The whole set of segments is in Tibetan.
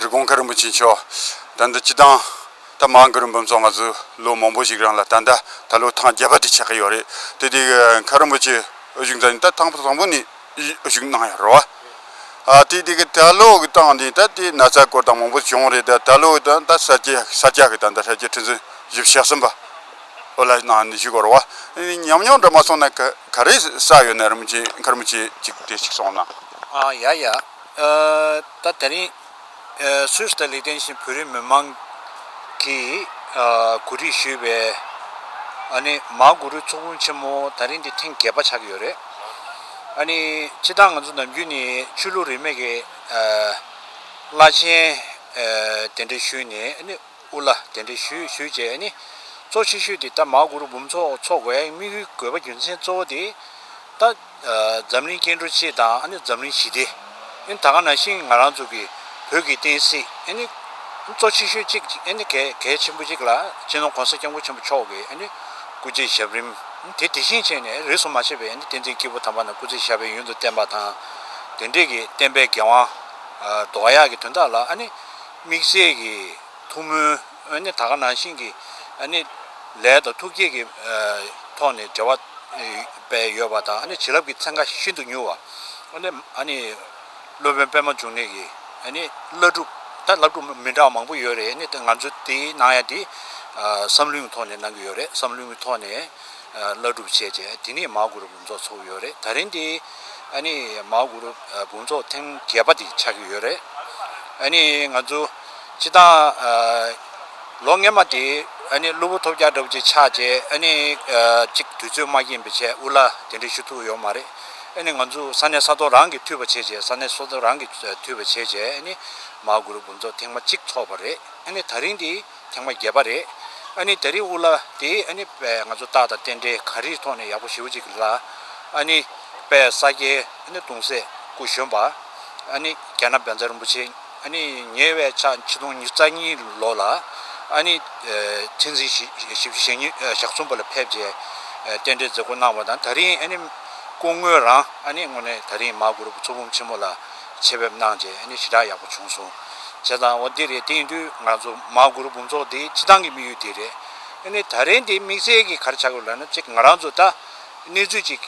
རི་གོང་མཁའ་རིན་པོ་ཆེ་མཆོག་ད་ལྟ་སྤྱི་བཏང་ད་མ་འགོ་རིན་པོ་མཆོག་ང་ཚོས་ལོ་མང་པོ་ཞིག་རང་ལ་ད་ལྟ་ད་ལོ་ཐང་བརྒྱད་པ་དེ་ཆགས་ཀྱི་ཡོད་རེད་དེ་དེ་མཁའ་རིན་པོ་ཆེ་དབུ་བཞུགས་མཛད་ནས་ད་ཐང་བཟང་པོ་ནས་དབུ་བཞུགས་གནང་ཡོད་རེད་བ་དེ་དེ་གི་ད་ལོ་གི་བཏང་དེ་ད་དེ་ན་ཚ་སྐོར་དང་མང་པོ་བྱུང་རེད་ད་ད་ལོ་ད་ད་ས་སྐྱ་ས་སྐྱ་གི་ད་ད་ཧྲ་སྐྱ་ཁྲི་འཛིན་བཞུགས་བྱས་ཟིན་པ། ཨོ་ལ་ནང་ནས་ཞིག་བོར་བ། ཉམས་མྱོང་འདྲ་མ་སོང་ན་ག་རེ་ས་ཡོད་ནས་རིམ་གྱིས་མཁར་མོ་ཆེ་གཅིག་དེ་གཅིག་སོང་ན། ཡ་ཡ། ད་དེ་རིང་སུས་ལྟ་ལེགས་ལྡན་ཞིང་བོད་རིགས་མི་མང་གིས་གོ་སྒྲིག་ཞུས་པའི་ཨ་ནི་མང་གུ་རུའི་ཚོགས་དཔོན་ཆེན་མོ་ད་རིང་འདི་ཐེངས་བརྒྱད་པ་ཆགས་ཀྱི་ཡོད་རེད། ཨ་ནི་སྤྱི་བཏང་ང་ཚོ་ནམ་རྒྱུན་ནས་ཆོས་ལུགས་རིས་མེད་ཀྱི་བླ་ཆེན་དེ་འདྲ་ཞུས་ནས་ཨ་ནི། དབུ་བླ་གདན་འདྲེན་ཞུས་ཞུས་རྗེས་ནི། གཙོ་ཆེ་ཤོས་དེ་ད་མ་གུ་རུ་འབུམ་ཚོགས་འཚོགས་པའི་དམིགས་ཡུལ་དགོས་པ་རྒྱུ་མཚན་གཙོ་བོ་དེ། ད། འཛམ་གླིང་སྐྱེ་འགྲོ་སྤྱི་དང་ཨ་ནི་འཛམ་གླིང་ཞི་བདེ། ཨནི་ད་ག་ན་ཤིང་ང་རང་ཚོ་གི་བོད་ཀྱི་བསྟན་སྲིད་ཨེ་ནི། གཙོ་ཆེ་ཤོས་གཅིག་ཨེ་ནི་གལ་གལ་ཆེན་པོ་གཅིག་ལ་སྤྱི་ནོར་གོང་ས་སྐྱབས་མགོན་ཆེན་པོ་མཆོག་གི་ཨེ་ནི། སྐུ་ཚེའི་ཞབས་རིམ། ཨནི་དེ་དེ་བཞིན་བྱས་ནས་རིས་སུ་མ་ཆད་པའི་ཨེ་ནི་བསྟན་འཛིན་སྐྱེས་བུ་དམ་པ་ན་སྐུ་ཚེ་ཞབས་པའི་ཡུན་དུ་བསྟན་པ་དང། དེ་འབྲེལ་གྱི་བསྟན་པའི་འགན་དབང། མདོ་ཡག་གི་དོན་དག་ལ་ཨ་ནི། དམིགས་བྱེད་ཀྱི་ཐུགས་སྨོན། ད་ག་ནང་བཞིན་གྱི་ལས་དང་ཐུགས་བསྐྱེད་ཀྱི་ཐོག་ནས་འབྲེལ་བ་བས་ཡོད་པ་དང་བྱིན་རླབས་ཀྱི་ཚན་ཁ་ཤིན་ཏུ་མྱུར་བ། སློབ་དཔོན་པདྨ་འབྱུང་གནས་ཀྱི་བླ་སྒྲུབ་ད་བླ་སྒྲུབ་མི་འདྲ་བ་མང་པོ་ཡོད་རེད་ང་ཚོ་དེ་ནང་ཡང་དེ་བསམ་བློའི་ཐོག་ནས་གནང་གི་ཡོད་རེད་བསམ་བློའི་ཐོག་ནས་བླ་སྒྲུབ་བྱས་རྗེས་དེ་ནས་མ་གུ་རུ། ཚོགས་ཚུགས་ཡོད་རེད་ད་རིང་འདི་ཨ་ནི་མའོ་གུ་རུ་དགོངས་ཚོགས་ཐེངས་བརྒྱད་པ་འདི་ཆགས་ཀྱི་ཡོད་རེད་ཨ་ནི་ང་ཚོ་སྤྱི་བཏང་ལོ་ལྔས་མ་དེ་ཨ་ནི་གླུ་བུ་ཐོབ་རྒྱག་འདྲ་བོ་ཅིག་ཆགས་རྗེས་ཨ་ནི་གཅིག་དུས་ཚོད་མ་སྐྱེན་པའི་ཆེད་དབུ་བླ་དེ་འདྲས་ཞུ་ཐུབ་ཡོད་མ་རེད་ཨ་ནི་ང་ཚོ་ས་གནས་ས་ཐོག་རང་གི་འཐུས་པ་བྱས་རྗེས་ས་གནས་ས་ཐོག་རང་གི་འཐུས་པ་བྱས་རྗེས་ཨ་ནི་མའོ་གུ་རུ་དགོངས་ཚོགས་ཐེངས་མ་གཅིག་ཚོགས་པ་རེད་ཨ་ནི་ད་རིང་འདི། ཐེངས་མ་བརྒྱད་པ་རེད། ཨ་ནི་ད་རིས་དབུ་བླ་དེ་ཨ་ནི་པས་ང་ཚོ་སྟག་དང་རྟེན་འབྲེལ་ག་རིས་ཐོག་ནས་ཡག་པོ་ཞིའུ་ཅིག་ལ། ཨ་ནི་པས་ས་སྐྱའི་ཨ་ནི་གདུང་སྲས་སྐུ་གཞོན་པ། ཨ་ནི་རྒྱ་ནག་བན་ཛར་རིན་པོ་ཆེ་ཨ་ནི་ཉེ་བའི་ཕྱག་ཆིག་སྟོང་ཉིས་རྩ་གཉིས་ལོ་ལ། ཨ་ནི་ཐེན་ཙིན་བཞི་བཅུ་ཞེ་གཉིས་ཞག་གསུམ་པ་ལ་ཕེབས་རྗེས་རྟེན་འབྲེལ་མཛད་སྒོ་གནང་བ་དང་ད་རིས་ཨ་ནི་སྐུ་དངོས་རང་ཨ་ནི་ངོ་ནས་ད་རིས་མ་གུ་རུ་བུ་ཚུར་བུམ་ཆེན་མོ་ལ། ཆེད་ཕེབས་གནང་རྗེས་ནི་ཞེ་དྲག་ཡག་པོ་བྱུང་སོང་ཞེས་དང་འོ་འདི་རེད་དེ་ཡིན་དུས་ང་ཚོ་མ་གུར་དགུང་ཚོགས་འདི་སྤྱི་བཏང་གི་དམིགས་ཡུལ་དེ་རེད་ནི་ད་རེས་འདི་དམིགས་བསལ་གྱི་གར་ཆག་གི་ལོ་ན་གཅིག་ང་རང་ཚོ་ད་གནས་ཚུལ་གཅིག་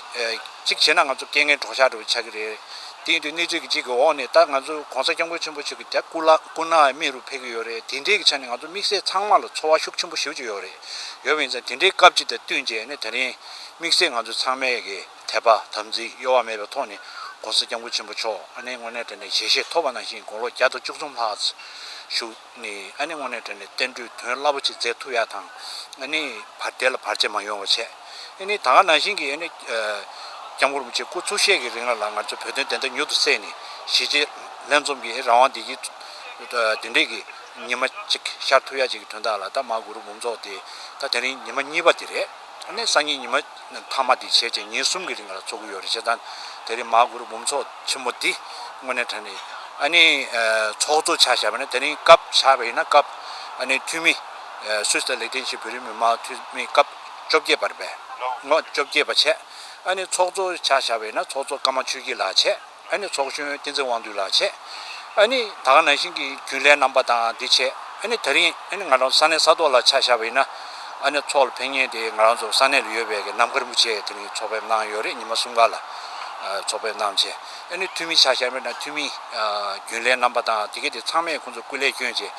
གཅིག་བྱས་ན་ང་ཚོ་སྐད་ངན་གྲོགས་ཤག་འགྲོ་བའི་ཆག་གི་རེད་དེ་ཡིན་དུས་གནས་ཚུལ་གྱི་གཅིག་གི་འོག་ནས་ད་ང་ཚོ་གོང་ས་སྐྱབས་མགོན་ཆེན་པོ་ཆོས་ཀྱི་རྒྱལ་སྐུ་ལ་སྐུ་ན་མེད་རུ་ཕེབས་ཀྱི་ཡོད་རེད་དེ་འདྲའི་གི་ཆ་ནས་ང་ཚོ་དམིགས་བསལ་ཚང་མ་ལ་འཚོ་བ་ཤུགས་ཆེན་པོ་ཞིག་བྱུ་ཡོད་རེད་ཡོད་པ་ཡིན་ཙང་དེ་འདྲའི་སྐབས་གཅིག་དང་བསྟུན་རྗེས་ནི་ད་རིང་དམིགས་བསལ་ང་ཚོ་ཚང་མས་གི། དད་པ་དམ་ཚིག་གཡོ་བ་མེད་པའི་ཐོག་ནས ྋགོང་ས ྋསྐྱབས་མགོན་ཆེན་པོ་མཆོག་ཨ་ནེ་སྔོན་གནས་གྲལ་ནས་ཞལ་བཞེས་ཐོབ་པ་ནང་བཞིན་དགུང་ལོ་བརྒྱ་དང་བཅུ་གསུམ་ལྷག་བཞུགས་ནས་ཨ་ནེ་སྔོན་གནས་གྲལ་ནས་བསྟན་འགྲོའི་དོན་རླབས་པོ་ཆེ་མཛད་ཐུབ་ཡག་དང་ཨ་ནེའི་བར་བདེ་ལ་བར་ཆད་མ་ཡོང་བ་བྱས། ཨ་ནེའི་ད་སྔ་ནང་བཞིན་གྱི་ཨ་ནེ ྋསྐྱབས་མགོན་རིན་པོ་ཆེའི་སྐུ་ཚུགས་ཤད་ཀྱི་རིང་ལ་ལ་ང་ཚོས་བོད་དོན་བདེན་མཐའ་མྱུར་དུ་བསལ་ནས་གཞིས་བྱེས་ལྷན་འཛོམས་ཀྱི་རང་དབང་བདེ་སྐྱིད་བདེ་འབྲས་ཀྱི་ཉི་མ་ཅིག་ཤར་ཐུབ་ཡག་ཅིག་གི་དོན་དག་ལ་ད་མ་གུ་རུ་འབུམ་ཚོགས་དེ་ད་དེ་རིང་ཉི་མ་གཉིས་པ་དེ་རེད། ཨ་ནེ་སང་ཉིན་ཉི་མ། མཐའ་མ་དེ་བྱས་རྗེས་ཉིན་གསུམ་གྱི་རིང་ལ་འཚོགས་ཀྱི་ཡོད་རེད་བྱས་ཙང། དེ་རིང་མ་གུ་རུ་འབུམ་ཚོགས་ཆེན་མོ་འདི་དངོས་གནས་དྲན་རེད། ཨ་ནི། ཚོགས་གཙོ་ཆགས་བྱས་པ་ནི་དེ་རིང་སྐབས་ཆགས་པ་ཡིན་ན་སྐབས། ཨ་ནི་འཐུས་མི། སུད་སི་ལ་ལས་དོན་བྱེད་བོད་རིགས་མི་མང་འཐུས་མི་སྐབས་བཅོ་བརྒྱད་པར་བས། ངོ། བཅོ་བརྒྱད་པ་བྱས། ཨ་ནི་ཚོགས་གཙོ་ཆགས་བྱས་པ་ཡིན་ན་ཚོགས་གཙོ་ཀརྨ་ཆོས་སྐྱིད་ལགས་བྱས། ཨ་ནི་ཚོགས་གཞོན་བསྟན་འཛིན་དབང་འདུས་ལགས་བྱས། ཨ་ནི་ད་ག་ནང་བཞིན་གྱི་རྒྱུན་ལས་རྣམ་པ་དང་དེ་བྱས། ཨ་ནི་ད་རིང་ཨ་ནི་ང་རང་ས་གནས་ས་ཐོག་ལ་ཆ་བཞག་པ་ཡིན་ན། ཨ་ནི་ཚོགས་ལ་ཕེབས་ཉིན་དེ་ང་རང་ཚོ་ས་གནས་ལ་ཡོད་པའི་གནམ་མཁར་རིན་པོ་ཆེ་དེ་རིང་ཚོགས་ཕེབས་གནང་ཡོད་རེད་ཉི་མ་གསུམ་ག་ལ་ཚོགས་ཕེབས་གནང་བྱས། ཨ་ནི་འཐུས་མི་ཆ་བཞག་པ་ཡིན་ན་འཐུས་མི། རྒྱུན་ལས་རྣམ་པ་དང་དེ་ག་དེ་ཚང་མས་ཁོང་ཚོ་སྐུ་ལས་བསྐྱོན་བྱས།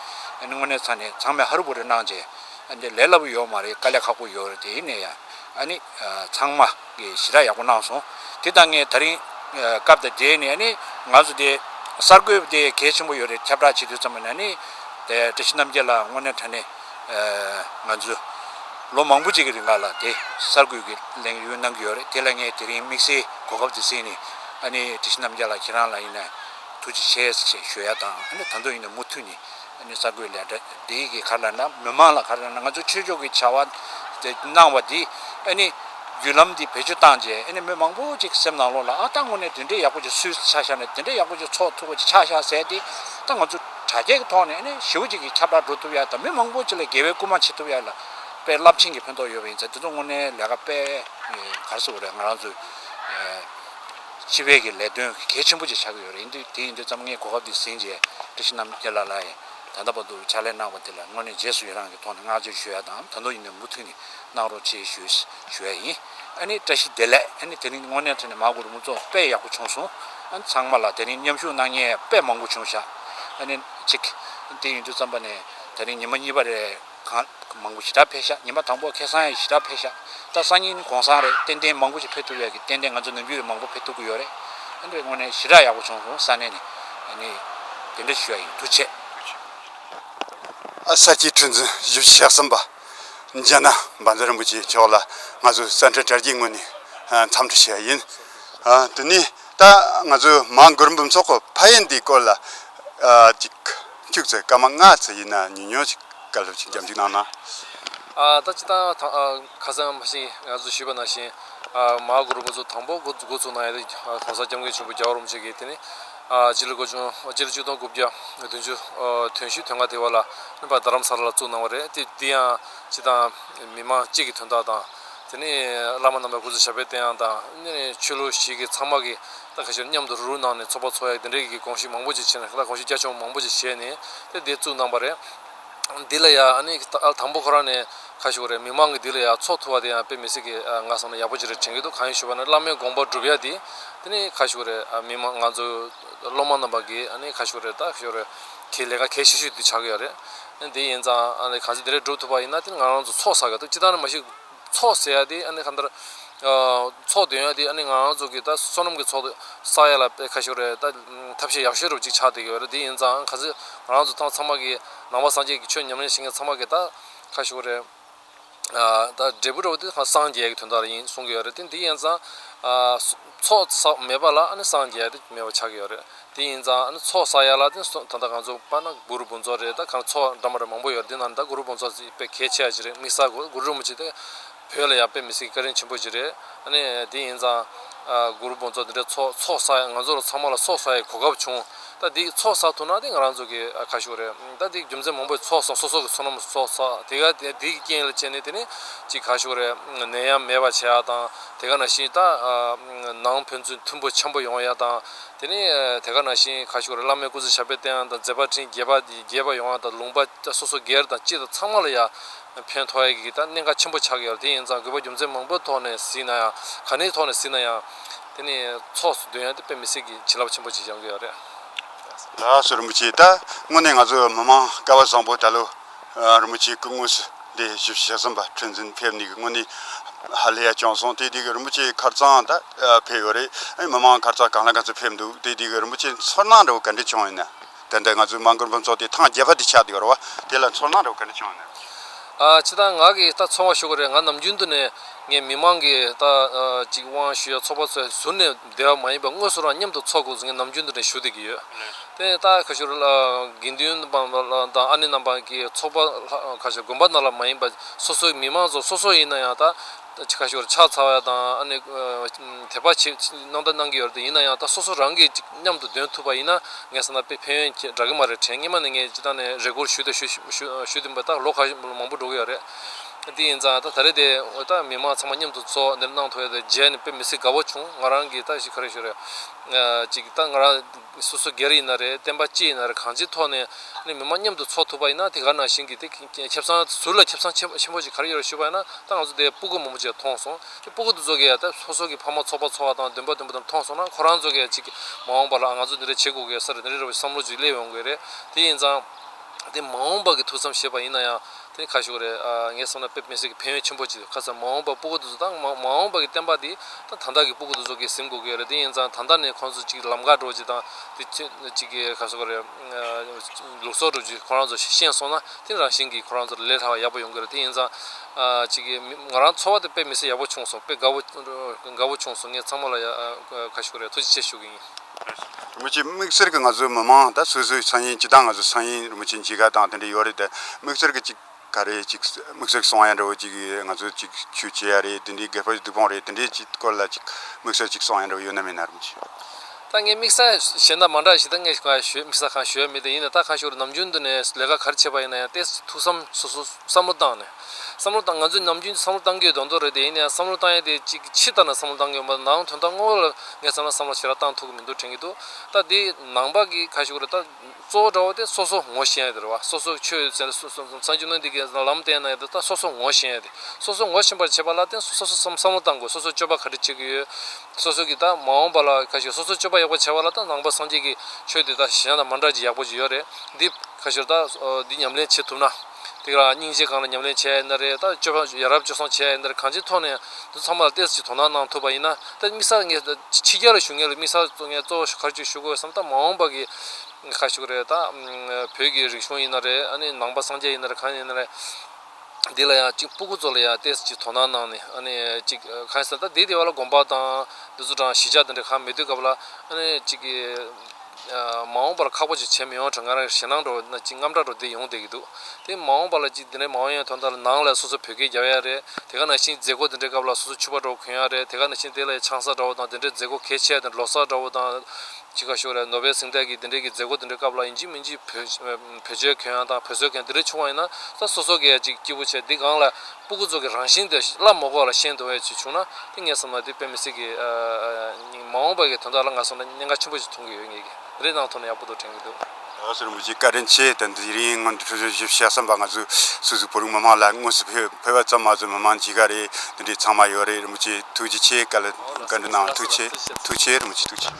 ཨ་ནི་དངོས་གནས་ཚང་ནས་ཚང་མས་ཧ་རུ་བུ་རུ་གནང་བྱས། ཨ་ནི་ལས་སླ་པོ་ཡོད་མ་རེད་དཀའ་ལས་ཁག་པོ་ཡོད་རེད་དེ་ནས་ཡང་ཨ་ནི་ཚང་མ། གཞི་རགས་ཡག་པོ་གནང་སོང། དེ་དང་ངས་ད་རིང། སྐབས་དང་འབྲེལ་ནས་ནི། ང་ཚོ་དེ། གསར་འགོད་དེ་གལ་ཆེན་པོ་ཡོད་རེད་ཁྱབ་བསྒྲགས་བྱེད་དུས་ཙམ་ན་ནི། བཀྲ་ཤིས་རྣམ་རྒྱལ་ལགས་དངོས་གནས་དྲན་ནས། ང་ཚོས། ལོ་མང་པོ་གཅིག་གི་རིང་ལ་ལ་དེ། གསར་འགོད་ཀྱི་གླེང་གཡོལ་གནང་གི་ཡོད་རེད་དེ་ལ་ངས་དེ་རིང་དམིགས་བསལ་གོ་སྐབས་དེ་བསྲིངས་ནས། ཨ་ནི་བཀྲ་ཤིས་རྣམ་རྒྱལ་ལགས་ཁྱེད་རང་ལ་ཡིན་ན། ཐུགས་རྗེ་ཆེ་ཞེས་ཞུ་ཡ་དང་ཨ་ནི་ད་དུང་ཡིན་ན་མུ་མཐུད་ནས། གསར་འགོད་ལས་བྲེལ་གྱི་ཁར་ལ་ན་མི་དམངས་ལ་ཁར་ལ་ན་ང་ཚོས་ཆོས་ཕྱོགས་ཀྱི་བྱ་བ་དེ་གནང་བ་དེ་བརྒྱུད་ལམ་དེ་བེད་སྤྱོད་བཏང་རྗེས་མི་མང་པོ་ཅིག་སེམས་ནང་ལོག་ལ་ཨ་ལྟ་ངོ་ནས་དེ་འདྲའི་ཡག་པོ་ཅིག་སུས་ཆ་བཞག་ནས་དེ་འདྲའི་ཡག་པོ་ཅིག་ཚོགས་ཐུབ་པ་ཅིག་ཆ་བཞག་ཟས་དེ་ད་ང་ཚོ་དྲ་རྒྱའི་ཐོག་ནས་ཞེའུ་ཅིག་གིས་ཁྱབ་བསྒྲགས་འགྲོ་ཐུབ་ཡ་དང་མི་མང་པོ་ཅིག་ལ་དགེ་བའི་སྐུལ་མ་བྱེད་ཐུབ་ཡ་ལ་དཔེ་རླབས་ཆེན་གྱི་ཕན་ཐོགས་ཡོད་པ་ཡིན་ཚེ་དེ་ཚོ་དངོས་གནས་ལས་ཀ་སྤེལ་གར་སོ་རེད་ང་རང་ཚོའི་སྤྱི་བེད་ཀྱི་ལས་དོན་གལ་ཆེན་པོ་ཅིག་བྱ་གི་ཡོད་རེད་དེ་ཡིན་དུས་ཙམ་ངས་གོ་སྐབས་འདི་ཟིན་རྗེས་བཀྲ་ཤིས་རྣམ་རྒྱལ་ལགས་ལ་ཡི་དམ་དམ་པ་འདུག་ཕྱག་ལས་གནང་བ་དེ་ལ་དངོས་གནས་རྗེས་སུ་ཡི་རངས་ཀྱི་ཐོག་ནས་བསྔགས་བརྗོད་ཞུ་ཡ་དང་ད་དུང་ཡིན་ནའི་མུ་མཐུད་ནས་གནང་རོགས་ཆེ་ཞུ་ཡ་ཡིན་ཨ་ནི་བཀྲ་ཤིས་བདེ་ལེགས་ཨ་ནི་དེ་རིང་དངོས་གནས་ཐོན་ནས་མ་གོ་རུ་མོ་ཚོ་དཔེ་ཡག་པོ་བྱུང་སོང་ཨ་ནི་ཚང་མ་ལ་དེ་རིང་མཉམ་ཞུགས་གནང་ཉེས་དཔེ་མང་པོ་བྱུང་ཤག་ཨ་ནི་གཅིག་དེ་ཡིན་དུས་ཙམ་པ་ནས་ད་རིང་ཉི་མ་གཉིས་པ་རེད། གང། མང་པོ་ཞི་དྲག་འཕེལ་ཤག་ཉིན་པ་དང་པོ་ཁེ་སང་ཡག་ཞི་དྲག་འཕེལ་ཤག་ད་སང་ཉིན་གོང་སང་རེད་ཏན་ཏན་མང་པོ་ཞིག་འཕེལ་ཐུབ་ཡག་གི་ཏན་ཏན་ང་ཚོ་ནང་རྒྱུད་རེད་མང་པོ་འཕེལ་ཐུབ་གི་ཡོད་རེད་དེ་འདྲ་དངོས་ནས་ཞི་དྲག་ཡག་པོ་བྱུང་སོང་ས་གནས་ནས་ནི་དེ་འདྲ་ཞུ་ཡག་ཡིན་ཐུགས་ཆེ། ཨ་ས་སྐྱའི་ཁྲི་འཛིན་བཞུགས་གཞག་གསུམ་པ་འཇག་ན་འབར་མཛད་རིན་པོ་ཆེ་མཆོག་ལ་ང་ཚོས་གསལ་འཕྲིན་དྲ་རྒྱའི་ངོས་ནས་འཚམས་འདྲི་ཞུ་ཡག་ཡིན། དེ་ནས་ད་ང་ཚོས་མང་སྒུར་འབུམ་ཚོགས་ཕ་ཡན་དེའི་སྐོར་ལ་ཅིག། ཅུག་ཙེ་སྐར་མ་ལྔ་ཙི་ཡིན་ན་ཉིན་ཉོན་ཅིག་སྐར་ལྷོད་ཅིག་འཇམ་ཅིག་གནང་ན། ད་ཅི་སྟངས་ཡོད་དང་ཁ་སང་མ་གཞི་ང་ཚོ་ཞུས་པ་ནང་བཞིན་མ་གོ་རུ་མ་ཚོ་དང་པོ་འགོ་ཚུགས་ནང་ཡང་གོང་ས་སྐྱབས་མགོན་ཆེན་པོ་རྒྱ་བ་རོམ་ཆོས་ཀྱི་དེ་ནི་སྤྱི་ལོ་སྒོ་བཅུ་སྤྱི་ལོ་བཅུ་སྟོང་དགུ་བརྒྱ་བདུན་ཅུ་དོན་ཞུས་དོན་ལྔ་དེ་བ་ལ་སྨིན་པ་རྡ་རམ་ས་ལ་ལ་བཙུགས་གནང་བ་རེད་དེ་འདི་ཡང་སྤྱི་དང་མི་དམངས་གཅིག་གི་དོན་དག་དང། དེ་ནི་བླ་མ་རྣམ་པ་སྐུ་ཚེ་ཞབས་པད་བརྟན་ཡང་དང། ཆོས་ལུགས་ཞིག་གི་ཚང་མ་གི་ལྟ་གལ་ཆེ་རུ་མཉམ་དུ་རུ་རུ་གནང་ནས་ཚོགས་པ་ཚོགས་ཡག་དེ་འདྲའི་གི་གོང་ཞིག་མང་པོ་ཅིག་བྱས་ནས་ལྷ་གོང་ཞིག་རྒྱ་ཆུང་མང་པོ་ཅིག་བྱས་ནས་དེ་འདི་བཙུགས་གནང་པ་རེད། འདི་ལ་ཡ་ཨ་ནི་ཨ་དང་པོ་ཁོ་རང་ནས་ཁ་ཞུ་བ་རེད་མི་མང་གི་འདི་ལ་ཡ་ཚོགས་ཐུ་བ་དེ་ཡང་དཔེ་མི་སྲིད་གི་ང་བསམ་ན་ཡག་པོ་ཅིག་རེད་དྲན་གི་འདུག་གང་ཡིན་ཞུ་བ་ན་བླ་མའི་དགོངས་པ་སྒྲུབ་ཡ་དེ་དེ་ནི་ཁ་ཞུ་རེད་མི་དམངས་ང་ཚོ་སློབ་མ་རྣམས་པ་གི་ཨ་ནི་ཁ་ཞུ་རེད་ད་ཞོ་རེད་གི་ལས་ཀ་གལ་ཆེ་ཤོས་དེ་ཆགས་གི་ཡོད་རེད་དེ་ཡིན་ཙང་ཨ་ནི་གང་ཚེ་དེ་རེད་སྒྲུབ་ཐུབ་པ་ཡིན་ན་དེ་ནི་ང་རང་ཚོ་ཚོགས་བསགས་ཡོད་དོ་ཅི་ལྟར་ན་མ་གཞི། ཚོགས་ཟེར་ཡ་དེ་ཨ་ནི་གང་ལྟར། ཚོགས་འདོན་ཡ་དེ་ཨ་ནི་ང་རང་ཚོ་གི་ད་བསོད་ནམས་ཀྱི་ཚོགས་དེ་བསགས་ཡ་ལ་དཔེ་ཁ་ཤོར་རེད་ད། ཐབས་ཤེས་ཡག་ཤོས་རུ་གཅིག་ཆགས་བསྡད་ཀྱི་ཡོད་རེད་དེ་ཡིན་ཙང་ག་ཚོད་ང་རང་ཚོ་ཏང་ཚང་མ་གི་ནང་པ་སངས་རྒྱས་ཀྱི་ཆོས་ཉམས་ལེན་བྱེད་མཁན་ཚང་མ་གི་ད་ཁ་ཤོར་རེད། ད་འབྲས་བུ་རུ་དེ་གང་སངས་རྒྱས་ཀྱི་དོན་དག་རེ་ཡིན་གསུང་གི་ཡོད་རེད་དེ་འདི་ཡིན་ཙང། ཚོགས་བསགས་མེད་པ་ལ་སངས་རྒྱས་དེ་མེད་པ་ཆགས་ཀྱི་ཡོད་རེད་དེ་ཡིན་ཙང་ཚོགས་བསགས་ཡག་ལ་དེ་ད་ལྟ་གང་ཚོགས་པ་ན་གུ་རུ་དཔོན་ཚོགས་རེད་ད་གང་ཚོགས་འདྲ་མ་འདྲ་མང་པོ་ཡོད་རེད་དེ་ནང་ད་གུ་རུ་དཔོན་ཚོགས་ཅིག་དཔེ་གལ་ཆེ་བ་ཅིག་རེད་དམིགས་བསལ་གུ་རུ་མོ་ཅིག་དེ་བོད་ལ་ཡག་དཔེ་མི་སྲིད་ཀྱི་བཀའ་དྲིན་ཆེན་པོ་ཅིག་རེད་དེ་ཡིན་ཙང་གུ་རུ་དཔོན་ཚོགས་འདི་འདྲ་ཚོགས་ཚོགས་བསགས་ཡག་ང་ཚོ་ལ་ཚང་མ་ལ་ཚོགས་བསགས་ཡག་གོ་སྐབས་བྱུང་ད་འདི་ཚོགས་བསགས་ཐུབ་ན་དེ་ང་རང་ཚོ་གི་ཁ་ཤུགས་རེད་ད་འདི་རྒྱུ་མཚན་མང་པོས་ཚོགས་བསགས་སོ་སོ་གི་ཚོགས་ནམ་ཚོགས་བསགས་དེ་ག་དེ་དེའི་རྐྱེན་ལས་ཅན་ནི་དེ་ནི་གཅིག་ཁ་ཤུགས་རེད་ནད་ཡམས་མེད་པ་བྱས་ཡག་དང་དེ་ག་ནང་བཞིན་ད། ནང་ཕན་ཚུན་མཐུན་པོ་ཆེན་པོ་ཡོང་ཡ་དང། དེ་ནས་དེ་ག་ནང་བཞིན་ཁ་ཤོར་བླ་མའི་སྐུ་ཚེ་ཞབས་པད་བརྟན་ཡང་དང་མཛད་པ་འཕྲིན་རྒྱས་པ་རྒྱས་པ་ཡོང་ཡ་དང་ལུང་པ་སོ་སོ་སྒེར་དང་སྤྱི་དང་ཚང་མ་ལ་ཡ། ཕན་ཐོག་ཡ་གི་ད་གནད་འགག་ཆེན་པོ་ཆགས་ཀྱི་ཡོད་དེ་ཡིན་ཙང་དགོས་པ་རྒྱུ་མཚན་མང་པོའི་ཐོག་ནས་ཟིན་ན་ཡང་ག་ནས་ཐོག་ནས་ཟིན་ན་ཡང། དེ་ནས་ཚོགས་སུ་འདོན་ཡ་དེ་དཔེ་མི་སྲིད་ཀྱི་བྱིན་རླབས་ཆེན་པོ་ཅིག་འབྱང་གི་ཡོད་རེད། རྡ་སར་རིན་པོ་ཆེས་ད་དངོས་གནས་ང་ཚོ་མི་མང་སྐལ་བ་བཟང་པོ་ད་ལོ། རི་མོ་གཅིག་གི་དངོས་སུ་འདི་ཞིབ་བཤེར་བྱས་ཟིན་པ་ཁྲི་འཛིན་ཕེབས་ནས་ཀྱི་སྔོན་ནས་ཧ་ལས་ཡ་བྱུང་སོང་དེ་དུས་ཀྱི་རི་མོ་ཆེའི་ཁར་རྩང་ད་ཕེབས་ཡོད་རེད་མི་མང་ཁར་རྩང་གང་ལ་ག་ཚོད་ཕེབས་འདུག་དེ་དུས་ཀྱི་རི་མོ་ཆེ་ཚོར་སྣང་འདྲ་བོ་ག་འདྲ་བྱུང་ཡོད་ན་དེ་འདྲ་ང་ཚོའི་མང་མགུར་འབུམ་ཚོགས་དེ་ཐང་རྒྱལ་བ་དེ་ཆགས་འདུག་ཡོད་རེད་བ་དེ་ལ་ཚོར་སྣང་འདྲ་བོ་ག་འདྲ་བྱུང་ཡོད་ན། ཆེ་ད་ང་གིས་ད་ཚོང་བ་ཞུ་གི་རེད་ང་ནམ་རྒྱུན་དུ་ནས་ངའི་མི་མང་གིས་ད་ཅིག་དབང་ཞུ་ཡ་ཚོགས་པ་ཚོའི་ཟུར་ནས། སྡེ་བ་མ་ཡིན་པའི་དངོས་སུ་རང་མཉམ་དུ་འཚོགས་དགོས་ཟེར་མཁན་ནམ་རྒྱུན་དུ་འདྲེན་ཞུ་བསྡད་ཀྱི་ཡོད། དེ་ནས་རྟ་ཁ་ཤོར་དགེ་འདུན་པ་དང་ཨ་ནེ་རྣམ་པ་ཀྱི་ཚོགས་པ་ཁ་ཤོར་དགོན་པ་ནང་ལ་མ་ཡིན་པ་སོ་སོའི་མི་མང་ཚོ་སོ་སོ་ཡིན་ན་ཡང་རྟ་ཁ་ཤོར་ཕྱག་འཚལ་བ་དང་ཨ་ནེ་དད་པ་ཆེ་གནང་བརྡ་གནང་གི་ཡོད་རེད་ཡིན་ན་ཡང་རྟ་སོ་སོ་རང་གིས་ཅིག་མཉམ་དུ་འདོན་ཐུབ་པ་ཡིན་ན་ངས་བསམ་ན་དཔེ་ཕན་ཡོན་གྱི་འདྲ་གི་མ་རེད་དྲན་སྙེ་མ་ནས་ངས་སྤྱི་བཏང་ནས་རེ་སྐུལ་ཞུས་ཏེ་ཞུས་ཏེ་མ་ད་ལོ་ཁ་མང་པོ་འགྲོ་གི་ཡོད་རེད། དེ་ཡིན་ཙང་ད་རེས་དེ་འོས་ཐག་མི་མང་ཚང་མ་མཉམ་དུ་ཚོགས་འདིར་གནང་ཐུབ་ཡོད་དེ་རྗེས་ནས་དཔེ་མི་སྲིད་དགའ་བོ་བྱུང་ང་རང་གིས་ད་ཞིག་ག་རེ་ཞུ་རེད་ཅིག་ད་ང་རང་སོ་སོ་སྒེར་ཡིན་ན་རེད་བསྟན་པ་སྤྱི་ཡིན་ན་རེད་གང་ཅིའི་ཐོག་ནས་ནས་མི་མང་མཉམ་དུ་ཚོགས་ཐུབ་པ་ཡིན་ན་དེ་ག་ནང་བཞིན་གྱི་དེ་ཁྱབ་ཚང་ཟུར་ལ་ཁྱབ་ཚང་ཆེན་ཆེན་པོ་ཞིག་ག་རེ་ཡོད་རེད་ཞུས་པ་ཡིན་ན་ད་ང་ཚོ་དེ་སྤུ་རྒོད་མང་པོ་ཅིག་མཐོང་སོང་དེ་སྤུ་རྒོད་དུ་ཚོགས་གི་ད་སོ་སོ་གི་ཕ་མ་ཚོགས་པ་ཚོགས་པ་དང་འདུན་པ་འདུན་པ་དང་མཐོང་སོང་ན་ཁོ་རང་ཚོ་གི་ཅིག་མ་འོངས་པ་ལ་ང་ཚོ་འདི་འདྲ་བྱེད་དགོས་གི་ས་རེད་འདི་རེད་རེད་བསམ་བློ་ཅིག་སླེབས་ཡོང་གི་རེད་དེ་ཡིན་ཙང་དེ་མ་འོངས་པ་གི་ཐུགས་བསམ་བཞེས་པ་ཡིན་ན་ཡང་དེ་ཁ་ཤོ་རེད་ངས་བསམ་ན་པེབ་མི་སེར་གྱི་ཕན་ཡོན་ཆེན་པོ་ཅིག་ཡོད་ཁ་སང་མ་འོངས་པར་སྤུ་གུ་དུ་ཚོ་དང་མ་འོངས་པར་གྱི་བསྟན་པ་འདི་ད་ཐང་ཐག་གི་སྤུ་གུ་དུ་ཚོ་གིས་ཟིན་དགོས་ཀྱི་རེད་དེ་ཡིན་ཙང་ད་ལྟ་ནས་ཁོང་ཚོ་ཅིག་ལམ་ཁ་འགྲོ་ཅིག་དང་དེ་ཅིག་གིས་ཁ་ཤོ་རེད་ལུགས་སྲོལ་གྲུབ་ཅིག་ཁོ་རང་ཚོ་ཤེས་སོང་ན་དེ་རང་བཞིན་གྱིས་ཁོ་རང་ཚོར་ལས་སླ་བ་ཡག་པོ་ཡོང་གི་རེད་དེ་ཡིན་ཙང་ཅིག་གིས་ང་རང་འཚོ་བ་དེ་པེབ་མི་སེར་ཡག་པོ་བྱུང་སོང་པེབ་དགའ་བོ་བྱུང་སོང་ངས་ཚང་མ་ལ་ཁ་ཤོ་རེད་ཐུགས་རྗེ་ཆེ་ཞུ་གི་ཡིན། རིན་པོ་ཆེ་དམིགས་བསལ་གྱི་ང་ཚོའི་མི་མང་ད་སོ་སོའི་སང་ཉིན་ཇི་ལྟ་ང་ཚོའི་སང་ཉིན་རིན་པོ་ཆེ་འཇིགས་ག་དང་དེ་འདྲ་ཡོད་རེད་དེ་དམིགས་བསལ་གྱི་ཅིག་ག་རེད་ཅིག་དམིགས་བསལ་གྱི་གསང་བ་ཡང་འདྲ་བོ་ཅིག་ང་ཚོ་ཅིག་ཆོས་བྱེད་ཡ་རེད་དེ་འདྲའི་སྒེར་པར་གྱི་སྡིག་སྤོང་རེད་དེ་འདྲའི་ཅིག་སྐོར་ལ་ཅིག་དམིགས་བསལ་ཅིག་གསང་བ་ཡང་འདྲ་བོ་ཡོད་ན་མེད་ན་རིན་པོ་ཆེ། ད་ངས་དམིགས་བསལ་གཞན་དག་མང་དག་ཞིག་ད་ངས་གང་ཞུ་དམིགས་བསལ་གང་ཞུ་ཡ་མེད་དེ་ཡིན་ན་ད་ཁ་ཤོར་ནམ་རྒྱུན་དུ་ནས་ལས་ཀ་ག་རེ་བྱས་པ་ཡིན་ན་ཡང་ལྟས་ཐུག་བསམ་སོ་སོ་བསམ་བློ་བཏང་ནས། བསམ་བློ་བཏང་ང་ཚོས་ནམ་རྒྱུན་བསམ་བློ་བཏང་གི་ཡོད་དོན་དོན་རེད་དེ་ཡིན་ནའང་བསམ་བློ་བཏང་ཡས་དེ་ཅིག་ཕྱི་ལྟར་ན་བསམ་བློ་བཏང་གི་ཡོད་མ་རེད་ནའང་དོན་དག་དངོས་ཡོད་ལ་ངས་བསམ་ན་བསམ་བློ་ཞེ་དྲག་བཏང་ཐུབ་གི་མི་འདུག་དྲན་གི་འདུག་ད་དེ་ནང་པ་གི་ཁ་ཞུགས་རེད་ད་གཙོ་བོ་འདྲ་བོ་དེ་སོ་སོ་ངོ་ཤེས་ཡས་དེ་རེད་བ་སོ་སོ་ཆོས་ཡོད་ཚད་སངས་རྒྱུ་ནོན་འདི་གི་ལམ་བསྟན་ན་ཡས་དེ་ད་སོ་སོ་ངོ་ཤེས་ཡས་དེ་སོ་སོ་ངོ་ཤེས་པར་བྱེད་པ་ལ་བརྟེན་སོ་སོ་བསམ་བློ་བཏང་དགོས་སོ་སོ་སྤྱོད་པ་ག་དྲི་བྱེད་གི་ཡོད་སོ་སོ་གི་ད་མ་འོངས་པ་ལ་ཁ་ཞུགས་སོ་སོ་སྤྱོད་པ་ཡག་པོ་བྱས་པ་ལ་ད་ནང་པ་སངས་རྒྱས་གི་ཆོས་དེ་ད་གཞན་དང་མ་འདྲ་ཅིག་ཡག་པོ་ཅིག་ཡོད་རེད་འདི་ཁ་ཞུགས་རེད་ད་འདི་ཉམས་ལེན་བྱེད་ཐུབ་ན། ཐིག་ལ་སྙིང་རྗེ་གང་ལ་ཉམས་ལེན་བྱས་ཡས་ན་རེད་ད་སྤྱོད་པ་ཡ་རབས་སྤྱོད་བཟང་བྱས་ཡས་ན་རེད་གང་ཅིའི་ཐོག་ནས་འདི་ཚང་མ་ལ་ལྟས་ཅིག་དོ་སྣང་གནང་ཐུབ་པ་ཡིན་ན་ད་དམིགས་བསལ་ངས་ད་ཕྱི་རྒྱལ་ལ་ཞུགས་ངེས་ལ་དམིགས་བསལ་གཙོ་ངས་གཙོ་བོ་ཁ་ཆུ་ཞུ་དགོས་བསམ་ད་མ་འོངས་པ་གི་ངས་ཁ་ཞུ་གི་རེད་ད། བོད་ཀྱི་རིག་གཞུང་ཡིན་ན་རེད་ཨ་ནི་ནང་པ་སངས་རྒྱས་ཡིན་ན་རེད་གང་ཡིན་ན་རེད། འདི་ལ་ཡང་ཅིག་སྤུ་གུ་ཚོ་ལ་ཡང་ལྟས་ཅིག་དོ་སྣང་གནང་ནས་ཨ་ནི་ཅིག་གང་ཡིན་ཟེར་ན་ད་འདི་ལྟེ་བ་ལ་དགོངས་པ་དང་འདི་ཚོ་དྲང་གཞི་ཆགས་འདི་འདྲ་གང་མི་སྡོད་སྐབས་ལ་ཨ་ནི་ཅིག། མ་འོངས་པར་ཁག་པོ་ཅིག་བྱེད་མི་ཡོང་གྲོ་ངར་ཞེ་སྣང་འགྲོ་བ་ཅིག་རྔམ་སྐྲག་འགྲོ་བསྡད་ཡོང་བསྡད་ཀྱི་འདུག་དེ་མ་འོངས་པ་ལ་ཅིག་འདི་འདྲའི་མ་འོངས་ཡང་ཐོན་ཐལ་ནང་ལ་སོ་སོ་བོད་སྐད་རྒྱག་ཡ་རེད་དེ་ག་ནང་བཞིན་མཛད་སྒོ་འདི་འདྲའི་སྐབས་ལ་སོ་སོ་ཕྱུ་པ་འདྲ་བོ་གོན་ཡ་རེད་དེ་ག་ནང་བཞིན་དེ་ལ་ཡང་ཆང་ས་འདྲ་བོ་དང་འདི་འདྲའི་མཛད་སྒོ་གལ་ཆེ་ཡ་དེ་འདྲ་ལོ་སར་འདྲ་བོ་དང། ཅི་ག་ཤོག་རེད་ནོ་བྷེལ་གཟེངས་རྟགས་ཀྱི་འདི་འདྲའི་གི་མཛད་སྒོ་འདི་འདྲའི་སྐབས་ལ་ཡིན་གཅིག་མིན་གཅིག་བོད་བྱོལ་གོན་ཡ་དང་བོད་བཟོད་གོན་ཡ་འདི་འདྲའི་ཆུང་བ་ཡིན་ན་ས་སོ་སོ་གི་ཡ་ཅིག་སྐྱིད་པོ་བྱས་འདི་སྒང་ལ་སྤུ་གུ་ཚོགས་ཀྱི་རང་བཞིན་དེ་སླར་མོ་ཀོག་ལ་ཤན་དུ་བས་ཅིག་བྱུང་ན་ཏིང་ངེ་སོང་བ་དེ་དཔེ་མི་སྲིད་ཀི། མ་འོངས་པ་གི་དོན་དག་ལ་ང་སོང་ན་སྙན་ངག་ཆེན་པོ་ཞིག་འཐུང་གི་ཡོད་ངེས་ཀི་རེད་གནང་ཐུབ་ན་ཡག་པོ་འདུག་དྲན་གི་འདུག། ཨོ་སི་རིན་པོ་ཆེ་བཀའ་དྲིན་ཆེ་དེ་འདི་རིང་སྔོན་འགྲོ་ཆོས་ཆོས་ཞིབ་བཤད་གསུངས་པ་ང་ཚོ་སུད་སི་བོད་རིགས་མི་དམངས་ལ་དངོས་སུ་ཕེབས་པ་ཙམ་མ་ཟད་མི་མང་ཇི་ག་རེ་འདི་འདྲའི་ཚང་མ་ཡོད་རེད་རིན་པོ་ཆེ་ཐུགས་རྗེ་ཆེ་བཀའ་ལ་བཀའ་འདྲི་གནང་ཐུགས་ཆེ་ཐུགས་ཆེ་རིན་པོ་ཆེ་ཐུགས་ཆེ།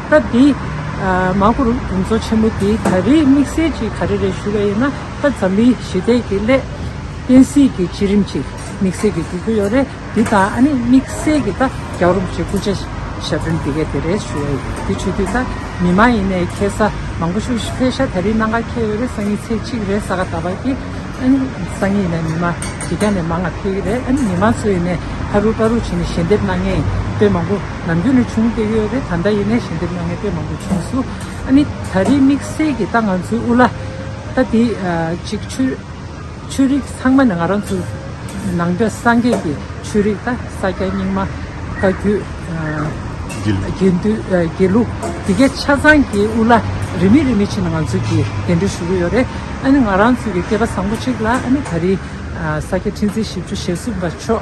སྐབས་དེ། མ་ཧུ་རུ་གྲོང་ཚོ་ཆེན་མོ་དེ་ག་རེའི་དམིགས་བསལ་གྱི་ག་རེ་རེད་ཞུ་བ་ཡིན་ན་ད་འཛམ་གླིང་ཞི་བདེ་གི་སླད། བསྟན་སྲིད་ཀྱི་བསྐྱེད་རིམ་གྱི་དམིགས་བསལ་གྱི་འགྲོ་རྒྱུ་ཡོད་རེད་དེ་ད་ཨ་ནི་དམིགས་བསལ་གྱི་ད་རྒྱག་རོགས་བྱེད་སྐུ་ཕྱྭ་ཞབས་དྲུང་དེ་ག་དེ་རེད་ཞུ་བ་ཡིན་དེ་ཆོས་དུས་ད་མི་མ་ཡིན་ནའི་ཁེ་ས་མང་པོ་ཤུགས་ཕེ་ཤ་ད་རི་ནང་ག་ཁེ་ཡོད་རེད་སང་ཉིན་ཚེས་གཅིག་རེད་ས་ག་ད་བ་ཀྱི་ཨ་ནི་སང་ཉིན་ནས་མི་མ་དེ་ག་ནས་མང་ང་ཕེ་གི་རེད་ཨ་ནི་མི་མ་ཚོ་ཡིན་ནའི་ཧ་རུ་པ་རུ་བྱེད་ནས་ཞལ་འདེབས་གནང་ངེས་ཡིན་དཔེ་མང་པོ། ནམ་རྒྱུན་ནས་བྱུང་བསྡད་ཡོད་རེད་ད་ལྟ་ཡིན་ནས་ཞལ་འདེབས་གནང་མཁན་དཔེ་མང་པོ་བྱུང་སུ་ཨ་ནི་ད་རེས་དམིགས་བསལ་གྱིས་ད་ང་ཚོའི་དབུ་བླ་ད་དེ་ཅིག་ཆོས་རིག་ཚང་མ་ནས་ང་རང་ཚོ་ནང་པའི་སངས་རྒྱས་ཀྱི་ཆོས་རིག་ད་ས་སྐྱ་རྙིང་མ་བཀའ་བརྒྱུད། དགེ་འདུན། དགེ་ལུགས་དེ་གའི་ཆ་ཚང་གི་དབུ་བླ་རིས་མེད་རིས་མེད་ཕྱིན་ན་ང་ཚོ་གི་གདན་འདྲེན་ཞུ་གི་ཡོད་རེད་ཨ་ནི་ང་རང་ཚོ་གི་སྐལ་པ་བཟང་པོ་ཅིག་ལ་ཨ་ནི་ད་རེས་ས་སྐྱ་ཁྲི་འཛིན་བཞི་བཅུ་ཞེ་གསུམ་པ་མཆོག་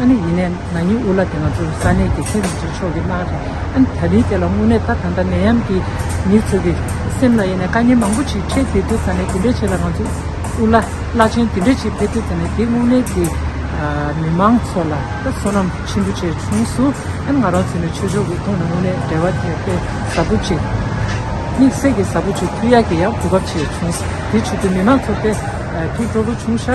ཨ་ནི་ཡིན་ནས་ན་ཉི་འུ་ལ་དེ་ང་ཚོ་ས་གནས་ཀྱི་ཚེ་རིང་ཚོའི་ཕྱོགས་ཀྱི་སྣང་རེད། ཨ་ནི་ད་ནི་དེ་ལ་དངོས་གནས་ད་ད་ལྟ་ནད་ཡམས་ཀྱིས་མི་ཚོ་གི་སེམས་ལ་ཡེ་ནས་དཀའ་ཉེན་མང་པོ་ཞིག་འཕྲད་དེ་དུས་ད་ནི་དེ་འདྲའི་ཆེད་ལ་ང་ཚོ་འུ་ལ་བླ་ཆེན་དེ་འདྲའི་ཞིག་ཕེབས་དུས་ད་ནི་དེ་དངོས་གནས་ཀྱི་མི་མང་ཚོ་ལ་ད་བསོད་ནམས་ཆེན་པོ་བྱས་བྱུང་སུ་ཨ་ནི་ང་རང་ཚོ་ནི་ཆོས་ཕྱོགས་ཀྱི་ཐོག་ནས་དངོས་གནས་འབྲེལ་བ་དེ་དཔེ་ཟབ་པོ་ཅིག་དམིགས་བསལ་གྱི་ཟབ་པོ་ཅིག་ཐུགས་ཡག་གི་ཡག་གོ་སྐབས་བྱས་བྱུང། དེ་ཆེད་དུ་མི་མང་ཚོ་དཔེ་ཐུགས་སྤྲོ་པོ་ཆུང་ཤ།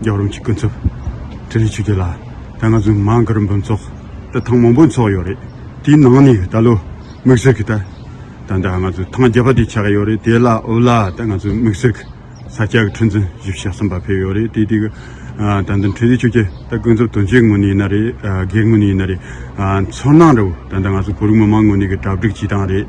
རྒྱབ་རོམ་གྱི་ཀུན་རྫོབ་དྲི་ལས་ཆུ་རྒྱུན་ལ་ད་ང་ཚོའི་མང་གི་རིམ་པ་འཚོགས་ད་ཐང་མང་པོ་འཚོགས་ཡོད་རེད་དེའི་ནང་ནས་ད་ལོ་མིག་ཟུར་གྱི་ད་ད་ད་ང་ཚོའི་ཐང་རྒྱབ་པ་དེ་ཆགས་ཡོད་རེད་དེ་ལ་འུ་ལ་ད་ང་ཚོའི་མིག་ཟུར་གྱི་ས་སྐྱ་གི་ཁྲི་འཛིན་བཞི་བཞི་གསུམ་པ་ཕེབས་ཡོད་རེད་དེ་དེ་གི་ད་འདི་དྲི་ལས་ཆུ་རྒྱུན་ད་ཀུན་རྫོབ་དོན་གཅོད་ངོས་ནས་ཡིན་ན་རེད་སྒེར་ངོས་ནས་ཡིན་ན་རེད་ཚོར་སྣང་རེད་འོ་ད་ད་ང་ཚོའི་བོད་རིགས་མི་མང་ངོས་ནས་གི་གྲབས་སྒྲིག་བྱེད་སྟངས་རེད།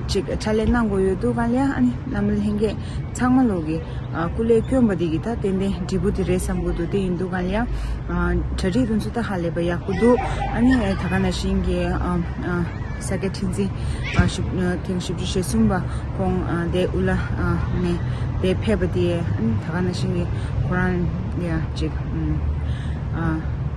ཅིག་ཕྲ་ལས་གནང་དགོས་ཡོད་འདུག་གང་ལེགས་ཨ་ནི་བླ་མ་ལྷན་རྒྱས་ཚང་མ་ལོག་གི་སྐུ་ལས་སྐྱོན་པ་འདི་གི་ད་ཏན་ཏན་འབྲས་བུ་དེ་རེད་བསམ་དགོས་འདུག་དེ་ཡིན་འདུག་གང་ལེགས་གྲ་སྒྲིག་དོན་ཚོད་ད་ཧ་ལས་པ་ཡག་པོ་འདུག་ཨ་ནི་ད་ག་ན་བཞིན་གྱི་ས་སྐྱ་ཁྲི་འཛིན་ཐེངས་བཞི་བཅུ་ཞེ་གསུམ་པ་ཁོང་དེ་དབུ་བླ་ནས་དེ་ཕེབས་པ་དེ་ཨ་ནི་ད་ག་ན་བཞིན་གྱི་ཁོ་རང་ཡ་ཅིག